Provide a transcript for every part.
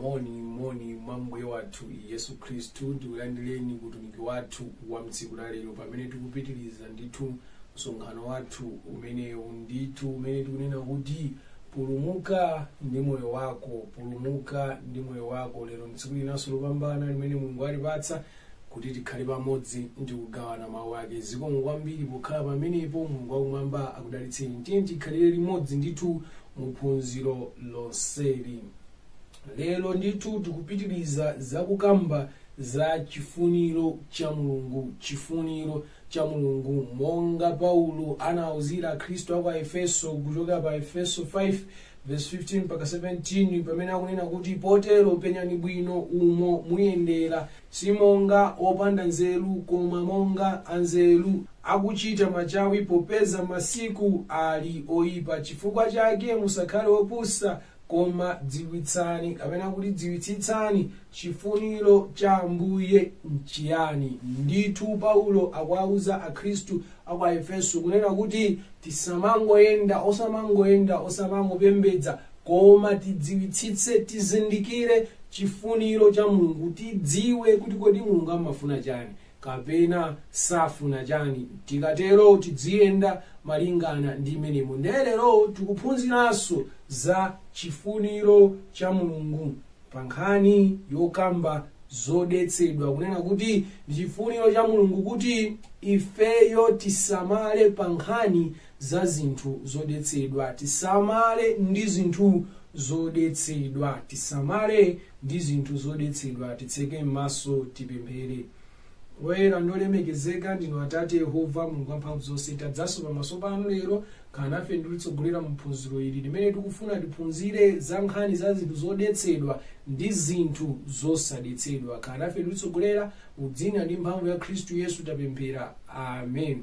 moni moni mwa mbuye wathu yesu khristu ndikulandireni ku utumiki wathu wa mtsiku la lero pamene tikupitiriza ndithu msonkhano wathu umenewu ndithu umene tikunena kuti pulumuka ndi moyo wako pulumuka ndi moyo wako lero mtsiku linanso lopambana limene mulungu alipatsa kuti tikhale pamodzi ndi kugawana mawu ake zikomo kwambiri pokhala pamenepo mulungu wakumwamba akudalitseni tiyeni tikhalire limodzi ndithu mu phunziro lonseli lero ndithu tikupitiriza zakukamba za chifuniro cha mulungu chifuniro cha mulungu monga paulo anauzira akhristu akwa efeso kuchoka pa efeso 5 verse 15 mpaka 17 pamene akunena kuti potero penyani bwino umo muyendera si monga opanda nzeru koma monga anzeru akuchita machawi popeza masiku ali oyipa chifukwa chake musakhale opusa koma dziwitsani kapena kuti dziwitsitsani chifuniro cha ambuye nchiyani ndithu paulo akuwauza akhristu akwa aefeso kunena kuti tisamangoyenda osamangoyenda osamangopembedza koma tidziwitsitse tizindikire chifuniro cha mulungu tidziwe kuti kodi mulungu amafuna chani kapena safuna chani tikatero tidziyenda malingana ndi mmenemo nde lero tikuphunziranso za chifuniro cha mulungu pa nkhani yokamba zodetsedwa kunena kuti ndi chifuniro cha mulungu kuti ifeyo tisamale pa nkhani za zinthu zodetsedwa tisamale ndi zinthu zodetsedwa tisamale ndi zinthu zodetsedwa titseke m'maso tipemphere woyera ndi wolemekezeka ndinu atate yehova mulungu wamphamvu zonse tadzanso pamaso panu lero khala nafe ndi kutitsogolera mu phunziro ili limene tikufuna tiphunzire za nkhani za zinthu zodetsedwa ndi zinthu zosadetsedwa khala nafe ndi kutitsogolera mu dzina ndi mphamvu ya khristu yesu tapemphera amen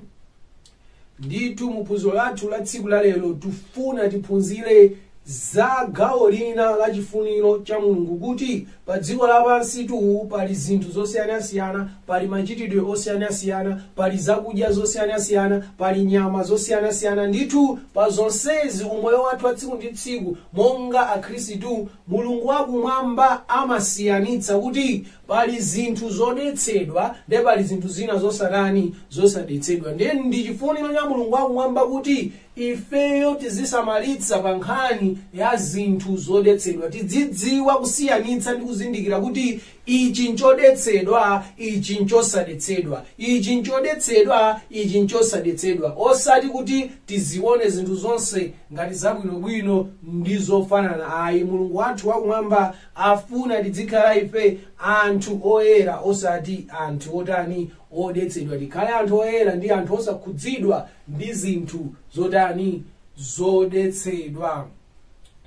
ndithu mu phunziro lathu la tsiku la lero tifuna tiphunzire za gawo lina la chifuniro cha mulungu kuti pa dziko lapansitu pali zinthu zosiyanasiyana pali machitidwe osiyanasiyana pali zakudya zosiyanasiyana pali nyama zosiyanasiyana ndithu pa zonsezi mu moyo wathu wa tsiku ndi tsiku monga akhristu mulungu wakumwamba amasiyanitsa kuti pali zinthu zodetsedwa ndiye pali zinthu zina zosatani zosadetsedwa ndiye ndi chifuniro cha mulungu wakumwamba kuti ifeyo tizisamalitsa pa nkhani ya zinthu zodetsedwa tidzidziwa kusiyanitsa ndi kuzindikira kuti ichi nchodetsedwa ichi nchosadetsedwa ichi nchodetsedwa ichi nchosadetsedwa osati kuti tizione zinthu zonse ngati zabwinobwino ndi zofanana ayi mulungu wathu wakumwamba afuna tidzikhala ife anthu oyera osati anthu otani odetsedwa tikhale anthu oyera ndi anthu osakhudzidwa ndi zinthu zotani zodetsedwa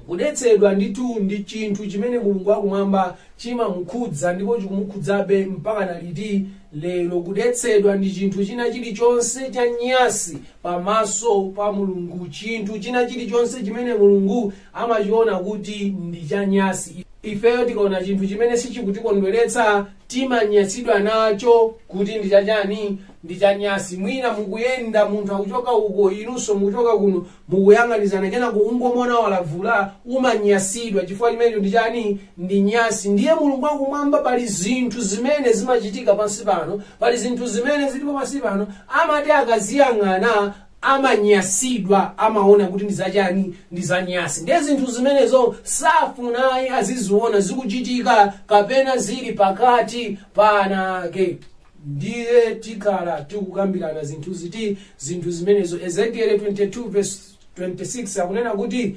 kudetsedwa ndithu ndi chinthu chimene mulungu wakumwamba chimamukhudza ndipo chikumukhudzabe mpaka na liti lero kudetsedwa ndi chinthu china chilichonse chanyasi pamaso pa mulungu chinthu china chilichonse chimene mulungu amachiona kuti ndi chanyasi ifeyo tikaona chinthu chimene sichikutikondweretsa timanyasidwa nacho kuti ndi chachani ndi chanyasi mwina mukuyenda munthu akuchoka uko inunso mukuchoka kuno mukuyang'anizana kenaka ungomuona walavula umanyasidwa chifukwa chimenecho ndi chani ndi nyasi ndiye mulungu wakumwamba pali zinthu zimene zimachitika pansi pano pali zinthu zimene zilipo pansi pano amati akaziyang'ana amanyasidwa amaona kuti ndi zachani ndi zanyasi ndiye zinthu zimenezo safuna ayi aziziona zikuchitika kapena zili pakati pa ana ake ndiye tikhala tikukambirana zinthu ziti zinthu zimenezo ezekiele 22 verse 26 akunena kuti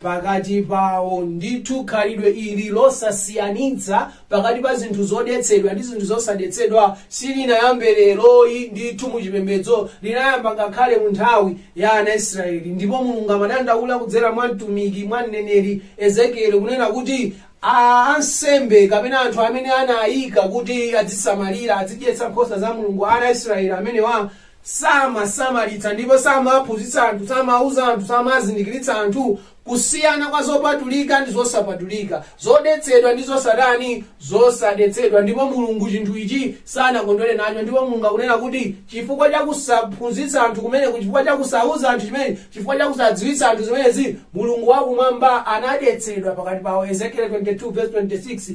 pakati pawo. Ndithu khalidwe ili losasiyanitsa pakati pa zinthu zodetsedwa ndi zinthu zosadetsedwa silinayambe leroyi. Ndithu mu chipembedzo linayamba ngakhale mu nthawi ya ana Israeli. Ndipo Mulungu amadandaula kudzera mwa mtumiki mwa mneneri Ezekieli kunena kuti ansembe kapena anthu amene anayika kuti adzisamalira adzidyetsa nkhosa za Mulungu ana Israeli amenewa samasamalitsa ndipo samaphunzitsa anthu samauza anthu samazindikiritsa anthu kusiyana kwa zopatulika ndi zosapatulika zodetsedwa ndi zosatani zosadetsedwa ndipo mulungu chinthu ichi sanakondwere nacho ndipo mulungu akunena kuti chifukwa cha kusaphunzitsa anthu kumeneku chifukwa cha kusauza anthu zimenezi chifukwa cha kusadziwitsa anthu zimenezi mulungu wakumwamba anadetsedwa pakati pawo ezekiel 22 verse 26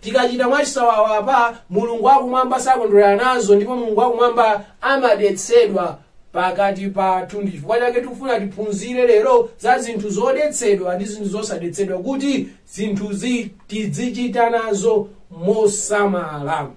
Tikachita mwachisawawa apa, Mulungu wa kumwamba sakondwera nazo ndipo Mulungu wa kumwamba amadetsedwa pakati pathu. Ndi chifukwa chake tikufuna tiphunzire lero za zinthu zodetsedwa ndi zinthu zosadetsedwa kuti zinthuzi tizichita nazo mosamala.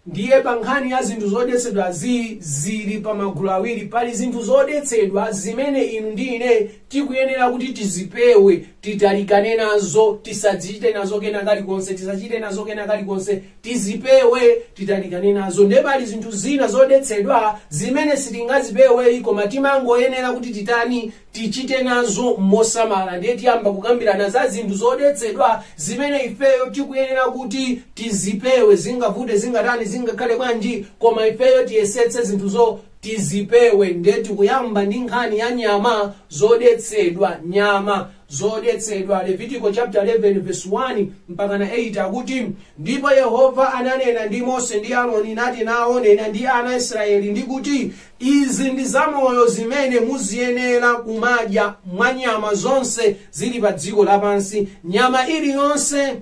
ndiye pa nkhani ya zinthu zodetsedwa zi zili pa magulu awiri pali zinthu zodetsedwa zimene inu ndi ine tikuyenera kuti tizipewe titalikane nazo tisadzichite nazo kena kalikonse tisachite nazo kena kalikonse tizipewe titalikane nazo ndiye pali zinthu zina zodetsedwa zimene sitingazipeweyi koma timangoyenera kuti titani tichite nazo mosamala ndiye tiyamba kukambirana za zinthu zodetsedwa zimene ifeyo tikuyenera kuti tizipewe zingavute zingatani zingakhale bwanji koma ifeyo tiyesetse zinthuzo tizipewe ndiye tikuyamba ndi nkhani ya nyama zodetsedwa nyama zodetsedwa levitiko chapter 11 verse 1 mpaka na 8 akuti ndipo yehova ananena ndi mose ndi aroni nati nawo nena ndi ana aisraeli ndi kuti izi ndi zamoyo zimene muziyenera kumadya mwa nyama zonse zili pa dziko lapansi nyama iliyonse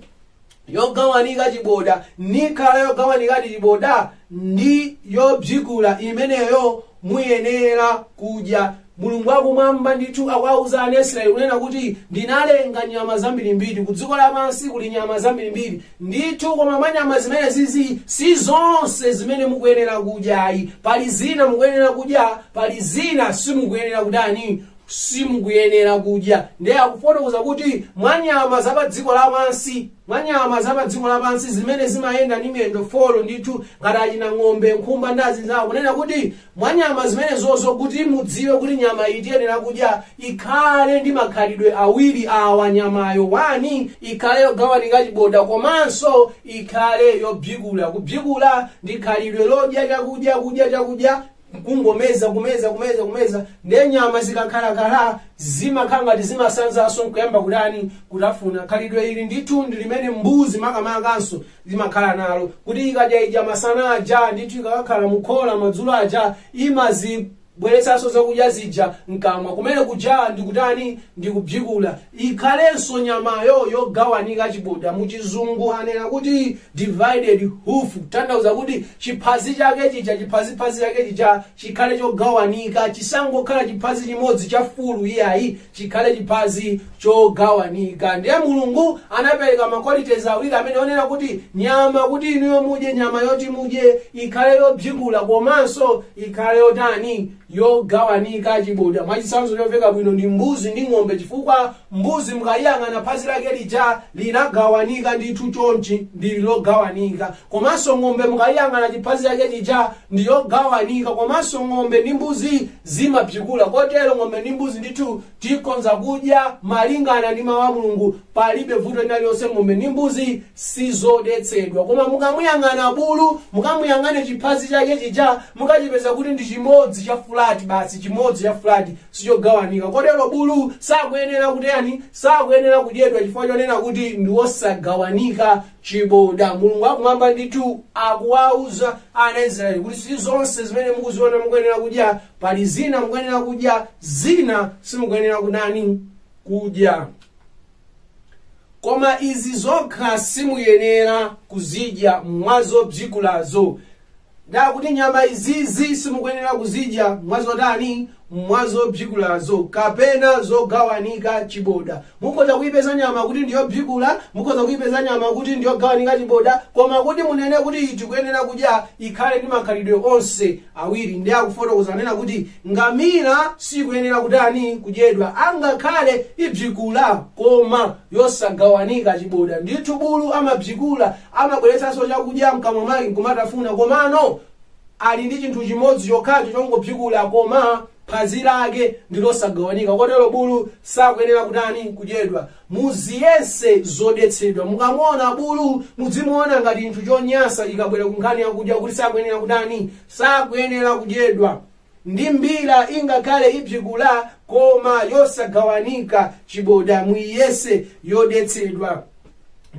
yogawanika chiboda nikhala yogawanikadi chiboda ndi yobzikula imeneyo muyenera kudya mulungu wakumwamba ndithu akuwauza ana aisraeli kunena kuti ndinalenga nyama zambirimbiri ku dziko lapansi kuli nyama zambirimbiri ndithu koma mwa nyama zimenezizi si zonse zimene mukuyenera kudya ayi pali zina mukuyenera kudya pali zina simukuyenera kutani simukuyenera kudya ndiye akufotokoza kuti mwa nyama za pa dziko lapansi mwa nyama za pa dziko lapansi zimene zimayenda ndi miyendo folo ndithu ngati achina ng'ombe nkhumba ndi azinzawo kunena kuti mwa nyama zimenezozo kuti mudziwe kuti nyama iyi tiyenera kudya ikhale ndi makhalidwe awiri awa nyamayo wani ikhale yogawanika chiboda komanso ikhale yobzikula kubzikula ndi khalidwe lodya chakudya kudya chakudya kungomeza kumeza kumeza kumeza ndiye nyama zikakhalakhala zimakhala ngati zimasanzanso nkuyamba kutani kutafuna khalidwe ili ndithu ndi limene mbuzi makamakanso imakhala nalo kuti ikadya idya masana aja ndithu ikakakhala mukhola madzulo aja imazibweretsanso zakudya zija mkamwa kumene kuja ndikutani ndikubzikula ikhalenso nyamayo yogawanika chiboda muchizungu anena kuti divided hoof kutanthauza kuti chiphazi chake chija chiphaziphazi chake chija chikhale chogawanika chisangokhala chiphazi chimodzi cha fulu iyayi chikhale chiphazi chogawanika ndiye mulungu anapereka maqualities awiri amenewo onena kuti nyama kuti inuyo mudye nyama yoti mudye ikhale yobzikula komanso ikhale yotani yogawanika chiboda mwachitsanzo chomveka bwino ndi mbuzi ndi ng'ombe chifukwa mbuzi mukayiyang'ana phazi lake lija linagawanika ndithu chonchi ndili logawanika Komanso ng'ombe mukayiyang'ana chiphazi chake chija ndi yogawanika komanso ng'ombe ndi mbuzi zimabzikula kotero ng'ombe ndi mbuzi ndithu tikhonza kudya malingana ndi mawu a mulungu palibe vuto lina lilonse ng'ombe ndi mbuzi sizodetsedwa koma mukamuyang'ana bulu mukamuyang'ane chiphazi chake chija mukachipeza kuti ndi chimodzi cha fulati basi chimodzi cha fulati sichogawanika kotero bulu sakuyenera kutani sakuyenera kudyedwa chifukwa chonena kuti ndi wosagawanika chiboda. Mulungu wa kumwamba ndithu akuwauza ana Israeli kuti si zonse zimene mukuziona mukuyenera kudya, pali zina mukuyenera kudya, zina simukuyenera kutani kudya. Koma izi zokha simuyenera kuzidya mwa zobzikulazo. Nde akuti nyama izizi simukuyenera kuzidya mwazotani? Mwazobzikulazo kapena zogawanika chiboda. Mukhoza kuipeza nyama kuti ndiyobzikula, mukhoza kuipeza nyama kuti ndiyogawanika chiboda, koma kuti munene kuti iyi tikuyenera kudya ikhale ndi makhalidwe onse awiri. Nde akufotokoza anena kuti ngamira sikuyenera kutani kudyedwa angakhale ibzikula koma yosagawanika chiboda. Ndithu bulu amabzikula Amabweretsanso chakudya mkamwa mwake nkumatafuna komano ali ndi chinthu chimodzi chokhacho chongobzikula koma phazi lake ndi losagawanika kotero bulu sakuyenera kutani kudyedwa. Muziyese zodetsedwa. Mukamuona bulu mudzimuona ngati chinthu chonyansa ikabwera ku nkhani yakudya kuti sakuyenera kutani sakuyenera kudyedwa. Ndi mbira ingakhale ibzikula koma yosagawanika chiboda muiyese yodetsedwa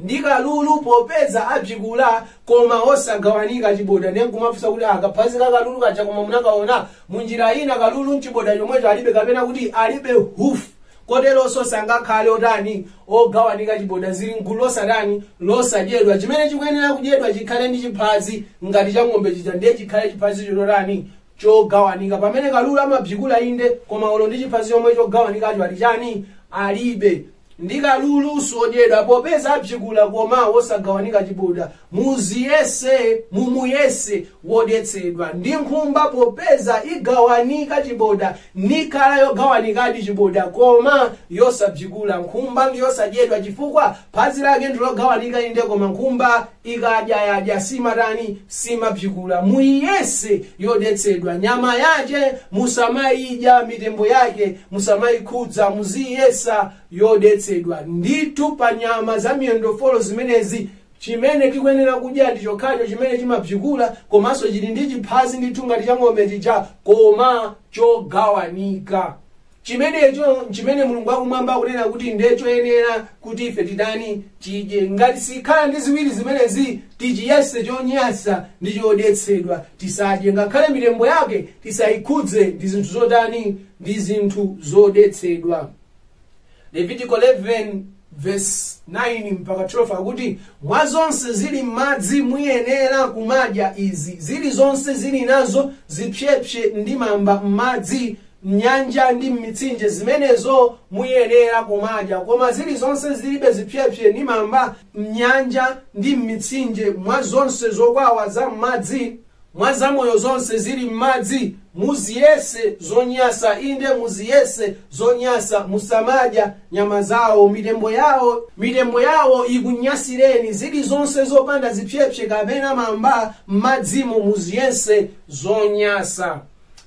ndi kalulu popeza abzikula koma osagawanika chiboda ndiye nkumafunsa kuti kaphazi ka kalulu kaja koma munakaona munjira ina kalulu mchiboda chomwecho alibe kapena kuti alibe hufu koteronso sangakhale otani ogawanika chiboda zili mgulu losatani losadyedwa chimene chikuyenera kudyedwa chikhale ndi chiphazi ngati cha ng'ombe chija ndiye chikhale chiphazi chotani chogawanika pamene kalulu amabzikula inde koma olo ndi chiphazi chomwe chogawanikacho ali chani alibe ndi kalulu sodyedwa popeza abzikula koma wosagawanika chiboda muziyese mumuyese wodetsedwa ndi nkhumba popeza igawanika chiboda nikhala yogawanikadi chiboda koma yosabzikula nkhumba ndi yosadyedwa chifukwa phazi lake ndilogawanika inde koma nkhumba ikadya yadya simatani simabzikula muiyese yodetsedwa nyama yace musamayidya mitembo yake musamayikhudza muziyesa yodetsedwa ndithu pa nyama za miyendo folo zimenezi chimene tikuyenera kudya ndi chokhacho chimene chimabzikula komanso chili ndi chiphazi ndithu ngati cha ng'ombe chija koma chogawanika chimenecho nchimene mulungu wakumwamba akunena kuti ndiye choyenera kuti ife titani tidye ngati sikhala ndi ziwiri zimenezi tichiyese chonyasa ndi chodetsedwa tisadye ngakhale mitembo yake tisayikhudze ndi zinthu zotani ndi zinthu zodetsedwa levitiko 11 vesi 9 mpaka 12 akuti mwa zonse zili m'madzi muyenera kumadya izi zili zonse zili nazo zipsepse ndi mamba m'madzi mnyanja ndi m'mitsinje zimenezo muyenera kumadya koma zili zonse zilibe zipsepse ndi mamba mnyanja ndi m'mitsinje mwa zonse zokwawa za m'madzi mwa zamoyo zonse zili m'madzi muziyese zonyasa inde muziyese zonyasa musamadya nyama zawo mitembo yawo mitembo yawo ikunyasireni zili zonse zopanda zipsepse kapena mamba m'madzimo muziyese zonyasa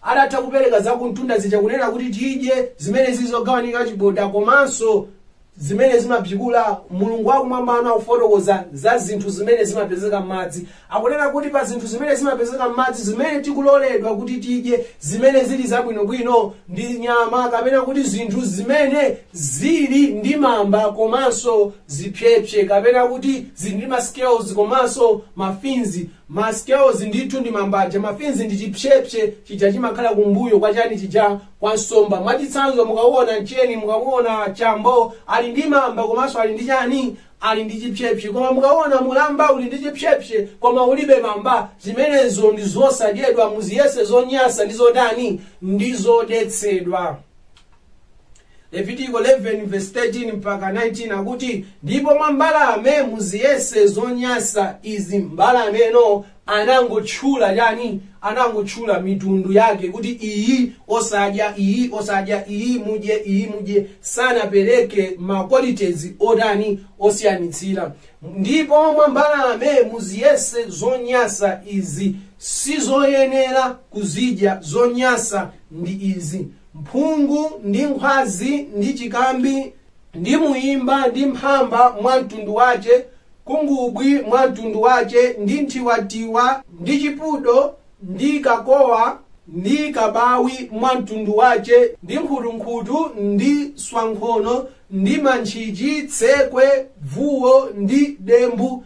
atatha kupereka zakumtunda zija kunena kuti tidye zimene zili zogawanika chiboda komanso zimene zimabzikula mulungu wakumwambano akufotokoza za zinthu zimene zimapezeka m'madzi akunena kuti pa zinthu zimene zimapezeka m'madzi zimene tikuloledwa kuti tidye zimene zili zabwinobwino ndi nyama kapena kuti zinthu zimene zili ndi mamba komanso zipsepse kapena kuti zili ndi mascales komanso mafins mascales ndithu ndi mamba aja mafins ndi chipsepse chija chimakhala kumbuyo kwa chani chija kwa nsomba mwachitsanzo mukaona mcheni mukaona chambo ali ndi mamba komanso ali ndi chani ali ndi chipsepse koma mukaona mulamba uli ndi chipsepse koma ulibe mamba zimenezo ndi zosadyedwa muziyese zonyasa ndi zotani ndi zodetsedwa levitiko 11 verse 13 mpaka 19 akuti ndipo mwa mbalame muziyese zonyasa izi mbalameno anangotchula chani anangotchula mitundu yake kuti iyi osadya iyi osadya iyi mudye iyi mudye sanapereke ma qualities otani osiyanitsira ndipo mwa mbalame muziyese zonyasa izi sizoyenera kuzidya zonyasa ndi izi mphungu ndi nkhwazi ndi chikambi Ndi muimba ndi mphamba mwa mtundu wace, khungubwi mwa mtundu wace, ndi nthiwatiwa, ndi chipudo, ndi kakowa, ndi kabawi mwa mtundu wace, ndi nkhutunkhutu, ndi swankhono, ndi mantchichi, tsekwe, vuwo, ndi dembu,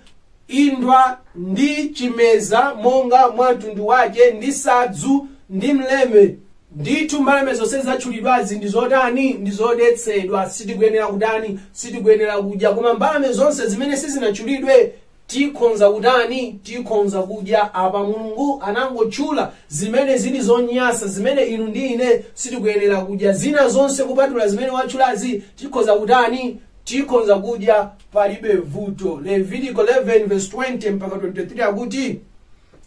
indwa, ndi chimeza, monga mwa mtundu wace, ndi sadzu, ndi mleme. Ndithu mbalame zonse zatchulidwazi ndi zotani? Ndi zodetsedwa, sitikuyenera kutani? Sitikuyenera kudya. Koma mbalame zonse zimene sizinatchulidwe tikhonza kutani? Tikhonza kudya. Apa Mulungu anangotchula zimene zili zonyasa, zimene inu ndi ine sitikuyenera kudya. Zina zonse kupatula zimene watchulazi tikhoza kutani? Tikhonza kudya. palibe vuto levitiko 11 verse 20 mpaka 23 akuti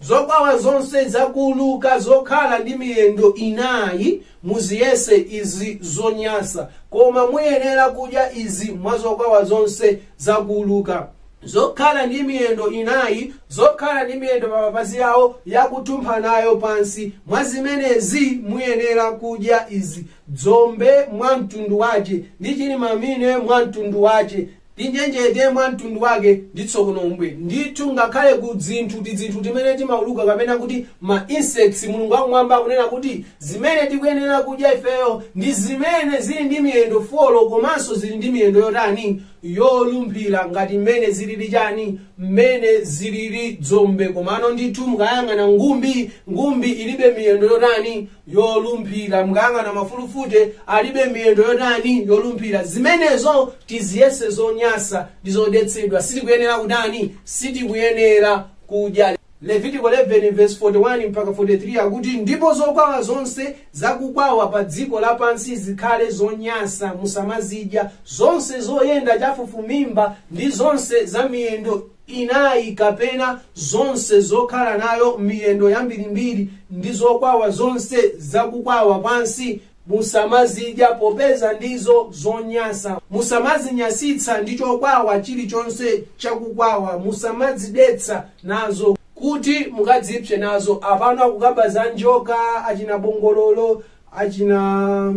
zokwawa zonse zakuuluka zokhala ndi miyendo inayi muziyese izi zonyasa koma muyenera kudya izi mwa zokwawa zonse zakuuluka zokhala ndi miyendo inayi zokhala ndi miyendo pa mapazi awo yakutumpha nayo pansi mwa zimenezi muyenera kudya izi dzombe mwa mtundu wace ndi cilimamine mwa mtundu wace ndi njenjete mwa mtundu wake ndi tsokonombwe ndithu ngakhale ku dzinthu tidzinthu timene timauluka kapena kuti ma insects mulungu wakumwamba akunena kuti zimene tikuyenera kudya ifeyo ndi zimene zili ndi miyendo folo komanso zili ndi miyendo yotani yolumphira ngati mmene zilili chani mmene zilili dzombe komano ndithu mukayang'ana ngumbi ngumbi ilibe miyendo yotani yolumphira mukayang'ana mafulufute alibe miyendo yotani yolumphira zimenezo tiziyese zonyasa ndi zodetsedwa sitikuyenera kutani sitikuyenera kudya levitiko 11 verse 41 mpaka 43 akuti ndipo zokwawa zonse zakukwawa pa dziko lapansi zikhale zonyasa musamazidya zonse zoyenda chafufumimba ndi zonse za miyendo inayi kapena zonse zokhala nayo miyendo yambirimbiri ndi zokwawa zonse zakukwawa pansi musamazidya popeza ndizo zonyasa musamazinyasitsa ndi chokwawa chilichonse chakukwawa musamadzidetsa nazo kuti mukadzipse nazo apano akukamba za njoka achina bongololo achina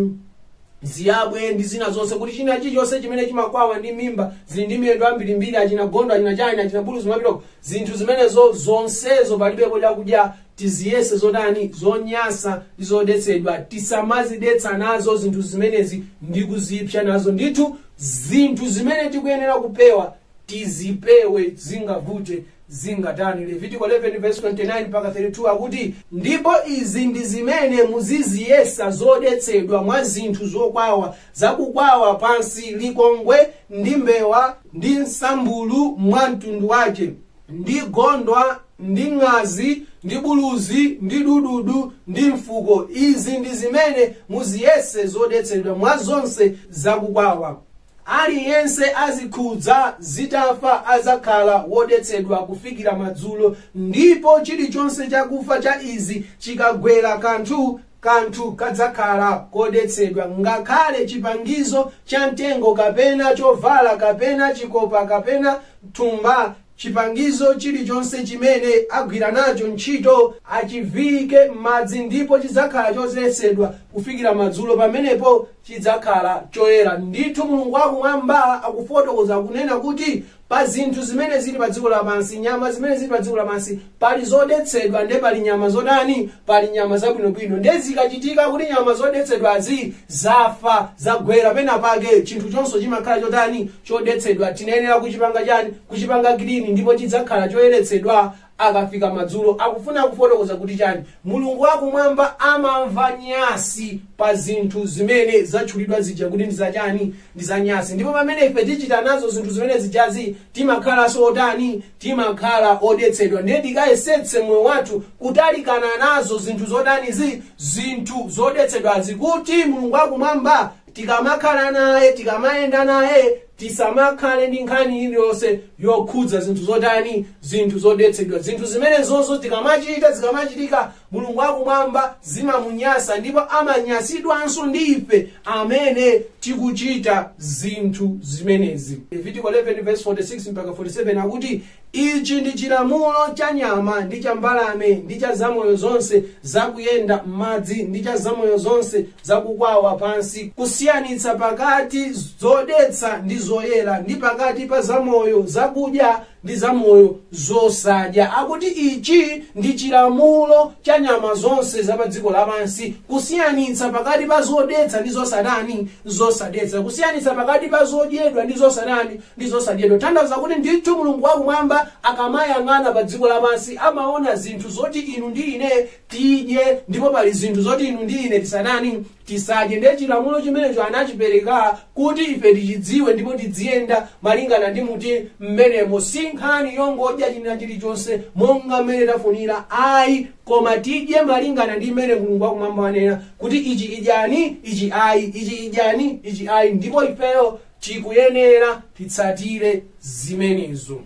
ziyabwe ndi zina zonse kuti china chilichonse chimene chimakwawa ndi mimba zili ndi miyendo ambirimbiri achina gondo achina chani achina buluzi kumapitako zinthu zimenezo zonsezo palibepo chakudya tiziyese zotani zonyasa ndi zodetsedwa tisamazidetsa nazo zinthu zimenezi ndi kuzipsa nazo ndithu zinthu zimene tikuyenera kupewa tizipewe zingavute zingatani levitiko 11 verse 29 mpaka 32 akuti ndipo izi ndi zimene muziziyesa zodetsedwa mwa zinthu zokwawa zakukwawa pansi likongwe ndi mbewa ndi msambulu mwa mtundu wace ndi gondwa ndi ng'azi ndi buluzi ndi dududu ndi mfuko izi ndi zimene muziyese zodetsedwa mwa zonse zakukwawa Aliyense azikhudza zitafa adzakhala wodetsedwa kufikira madzulo, ndipo chilichonse chakufa cha izi chikagwera kanthu, kanthu kadzakhala kodetsedwa, ngakhale chipangizo chamtengo, kapena chovala, kapena chikopa, kapena thumba, Chipangizo chilichonse chimene agwira nacho ntchito achiviyike m'madzi ndipo chidzakhala chodetsedwa kufikira madzulo, pamenepo chidzakhala choyera ndithu. Mulungu wakumwamba akufotokoza, kunena kuti, Pa zinthu zimene zili padziko lapansi, nyama zimene zili padziko lapansi, pali zodetsedwa nde pali nyama zotani pali nyama zabwinobwino nde zikachitika kuti nyama zodetsedwazi zafa zagwera pena pake chinthu chonse chimakhala chotani chodetsedwa tinayenera kuchipanga chani kuchipanga clean ndipo chidzakhala choyeretsedwa akafika madzulo akufuna kufotokoza kuti chani mulungu wakumwamba amamva nyasi pa zinthu zimene zatchulidwa zija kuti ndi zachani ndi zanyasi ndipo pamene ife tichita nazo zinthu zimene zijazi timakhalanso otani timakhala odetsedwa ndiye tikayesetse moyo wathu kutalikana nazo zinthu zotanizi zinthu zodetsedwazi kuti mulungu wakumwamba tikamakhala naye tikamayenda naye tisamakhale ndi nkhani iliyonse yokhudza zinthu zotani zinthu zodetsedwa zinthu zimenezozo tikamachita zikamachitika mulungu wakumwamba zimamunyasa ndipo amanyasidwanso ndi ife amene tikuchita zinthu zimenezi levitiko 11 verse 46 mpaka 47 akuti ichi ndi chilamulo cha nyama ndi cha mbalame ndi cha zamoyo zonse zakuyenda m'madzi ndi cha zamoyo zonse zakukwawa pansi kusiyanitsa pakati zodetsa ndi zoyera ndi pakati pa zamoyo zakudya ndi zamoyo zosadya akuti ichi ndi chilamulo cha nyama zonse za pa dziko lapansi kusiyanitsa pakati pa zodetsa ndi zosatani zosadetsa kusiyanitsa pakati pa zodyedwa ndi zosatani ndi zosadyedwa kutanthauza kuti ndithu mulungu wakumwamba akamayang'ana pa dziko lapansi amaona zinthu zoti inu ndi ine tidye ndipo pali zinthu zoti inu ndi ine tisatani tisadye ndiye chilamulo chimenecho anachipereka kuti ife tichidziwe ndipo tidziyenda malingana ndi muti m'menemo si nkhani yongodya china chilichonse monga mmene tafunira ayi koma tidye malingana ndi mmene mulungu wakumwamba wanena kuti ichi idyani ichi ayi ichi idyani ichi ayi ndipo ifeyo tikuyenera titsatire zimenezo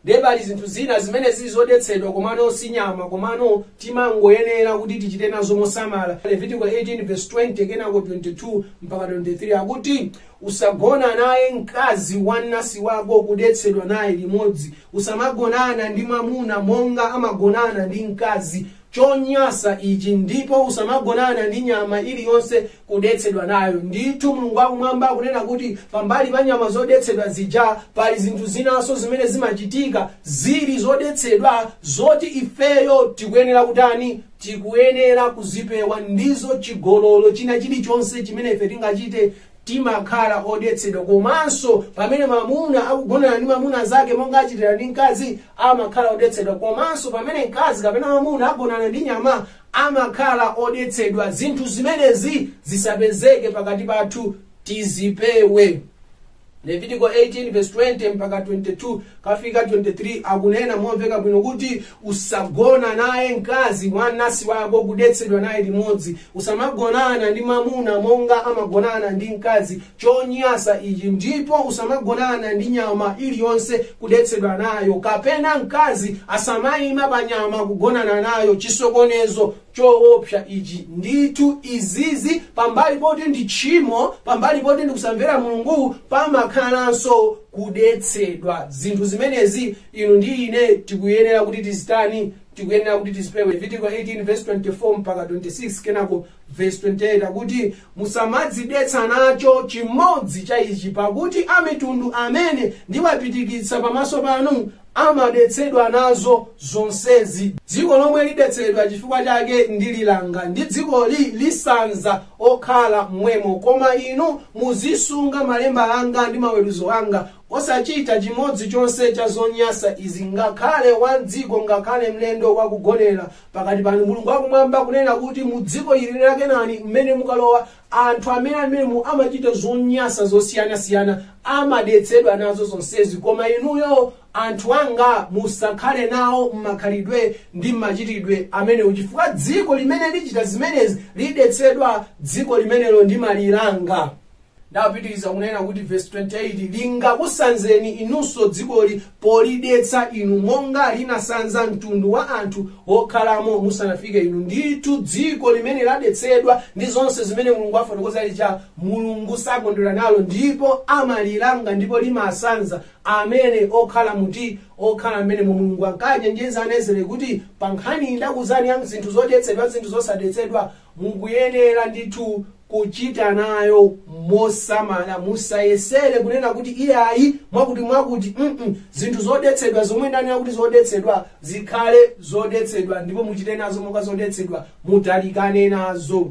ndiye pali zinthu zina zimene zili zodetsedwa komano si nyama komano timangoyenera kuti tichite nazo mosamala levitiko 18 verse 20 kenako 22 mpaka 23 akuti usagona naye mkazi wa mnansi wako kudetsedwa naye limodzi usamagonana ndi mwamuna monga amagonana ndi mkazi chonyasa ichi ndipo usamagonana ndi nyama iliyonse kudetsedwa nayo ndithu mulungu wakumwamba akunena kuti pambali pa nyama zodetsedwa zija pali zinthu zinanso zimene zimachitika zili zodetsedwa zoti ifeyo tikuyenera kutani tikuyenera kuzipewa ndizo chigololo china chilichonse chimene ife tingachite timakhala odetsedwa komanso pamene mamuna akugonana ndi mamuna mnzake monga achitira ndi mkazi amakhala odetsedwa komanso pamene mkazi kapena mamuna agonana ndi nyama amakhala odetsedwa. Zinthu zimenezi zisapezeke pakati pathu, tizipewe. Levitiko 18 verse 20 mpaka 22 kafika 23 akunena momveka bwino kuti usagona naye mkazi wa mnansi wako kudetsedwa naye limodzi usamagonana ndi mwamuna monga amagonana ndi mkazi chonyasa ichi ndipo usamagonana ndi nyama iliyonse kudetsedwa nayo kapena mkazi asamaima pa nyama kugonana nayo chisokonezo choopsa ichi ndithu izizi pambali poti ndi tchimo pambali poti ndi kusamvera mulungu pamakhalanso kudetsedwa zinthu zimenezi inu ndi ine tikuyenera kuti tizitani tikuyenera kuti tizipewe levitiko 18 verse 24 mpaka 26 kenako verse 28 akuti Musamadzidetsa nacho chimodzi cha ichi, pakuti amitundu amene ndiwapitikitsa pamaso panu amadetsedwa nazo zonsezi. Dziko lomwe lidetsedwa chifukwa chake ndililanga, ndi dzikoli lisanza okhala m'mwemo. Koma inu muzisunga malemba anga ndi maweruzo anga, osachita chimodzi chonse cha zonyasa izi, ngakhale wa m'dziko, ngakhale mlendo wakugonera pakati panu mulungu wakumwamba akunena kuti mu dziko ili la kenani mmene mukalowa anthu amene ali mmenemo amachita zonyasa zosiyanasiyana amadetsedwa nazo zonsezi koma inuyo anthu anga musakhale nawo mmakhalidwe ndi mmachitidwe amenewo chifukwa dziko limene lichita zimenezi lidetsedwa dziko limenelo ndimalilanga ndi wapitiriza kunena kuti vesi 28 lingakusanzeni inunso dzikoli polidetsa inu monga linasanza mtundu wa anthu wokhalamo musanafike inu ndithu dziko limene ladetsedwa ndi zonse zimene mulungu afotokoza lija mulungu sakondwera nalo ndipo amalilanga ndipo limasanza amene okhala muti okhala mmenemo mulungu ankachenjeza ana a israeli kuti pa nkhani ndakuuzani ya zinthu zodetsedwa zinthu zosadetsedwa mukuyenera ndithu kuchita nayo mosamala musayesere kunena kuti iyayi mwakuti mwakuti mm zinthu zodetsedwa zomwe ndanena kuti zodetsedwa zikhale zodetsedwa ndipo muchite nazo monga zodetsedwa mutalikane nazo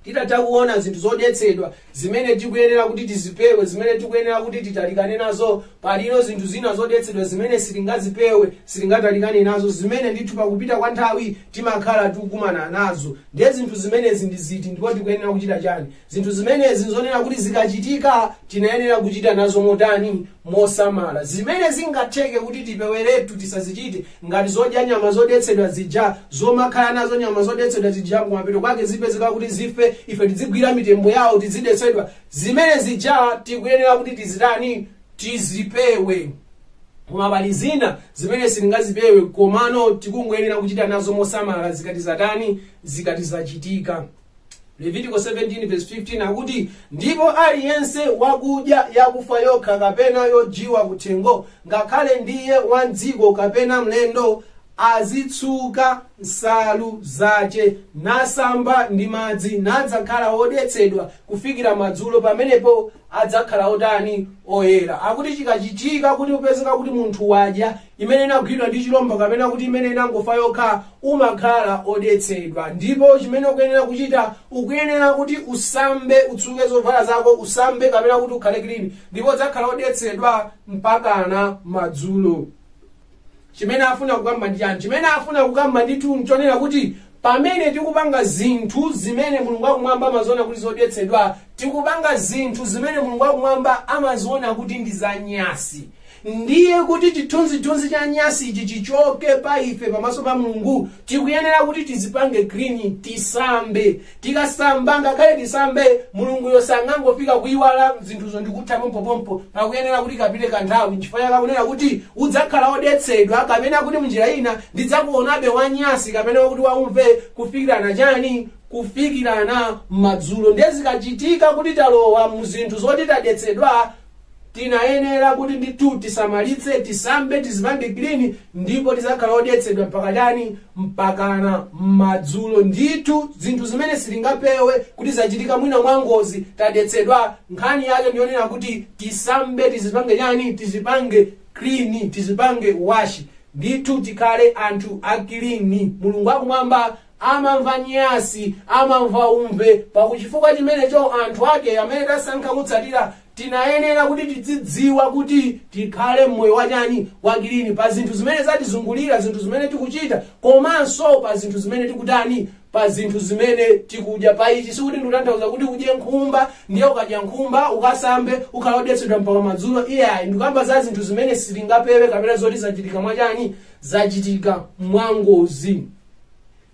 titatha kuona zinthu zodetsedwa zimene tikuyenera kuti tizipewe zimene tikuyenera kuti titalikane nazo palino zinthu zina zodetsedwa zimene sitingazipewe sitingatalikane nazo zimene ndithu pakupita kwa nthawi timakhala tikukumana nazo ndiye zinthu zimenezi ndi ziti ndipo tikuyenera kuchita chani zinthu zimenezi nzonena kuti zikachitika tinayenera kuchita nazo motani mosamala zimene zingatheke kuti tipeweretu tisazichite ngati zodya nyama zodetsedwa zija zomakhala nazo nyama zodetsedwa zija kumapeto kwake zipezeka kuti zife ife tizigwira mitembo yawo tizidetsedwa zimene zija tikuyenera kuti tizitani tizipewe koma pali zina zimene sitingazipewe komano tikungoyenera kuchita nazo mosamala zikati zatani zikati zachitika levitiko 17 verse 15 akuti ndipo aliyense wakudya yakufa yokha kapena yodyiwa kuthengo ngakhale ndiye wa mdziko kapena mlendo azitsuka nsalu zace nasamba ndi madzi nadzakhala wodetsedwa kufikira madzulo pamenepo adzakhala otani oyera akuti chikachitika kuti upezeka kuti munthu wadya imene inagwidwa ndi chilombo kapena kuti imene inangofa yokha umakhala odetsedwa ndipo chimene ukuyenera kuchita ukuyenera kuti usambe utsuke zovala zako usambe kapena kuti ukhale clean ndipo udzakhala odetsedwa mpakana madzulo chimene afuna kukamba ndi chani chimene afuna kukamba ndithu nchonena kuti pamene tikupanga zinthu zimene mulungu akumwamba amaziona kuti zodetsedwa tikupanga zinthu zimene mulungu akumwamba amaziona kuti ndi zanyasi ndiye kuti chithunzithunzi cha nyasi ichi chichoke pa ife pamaso pa mulungu tikuyenera kuti tizipange clean tisambe tikasamba ngakhale tisambe mulunguyo sangangofika kuyiwala zinthuzo ndikutha pompopompo pakuyenera kuti kapite kanthawi nchifukwa chake akunena kuti udzakhala odetsedwa kapena kuti mnjira ina ndidzakuonabe wanyasi kapena kuti waumve kufikirana chani kufikirana madzulo ndiye zikachitika kuti talowa mu zinthu zoti tadetsedwa tinayenera kuti ndithu tisamalitse tisambe tizipange clean ndipo tizakhala odetsedwa mpaka chani mpakana madzulo ndithu zinthu zimene sitingapewe kuti zachitika mwina mwa ngozi tadetsedwa nkhani yake ndiyonena kuti tisambe tizipange chani tizipange clean tizipange wash Ndithu tikhale anthu a clean. Mulungu wakumwamba amamva nyasi, amamva umve. Pakuchifukwa chimenecho anthu ake amene tasankha kutsatira tinayenera kuti tidzidziwa kuti tikhale mmoyo wachani wa clean pa zinthu zimene zatizungulira, zinthu zimene tikuchita komanso pa zinthu zimene tikutani pa zinthu zimene tikudya pa ichi sikuti ndikutanthauza kuti udye nkhumba ndiye ukadya nkhumba ukasambe ukhala odetsedwa mpaka madzulo iyayi ndikukamba za zinthu zimene sitingapewe kapena zoti zachitika mwachani zachitika mwangozi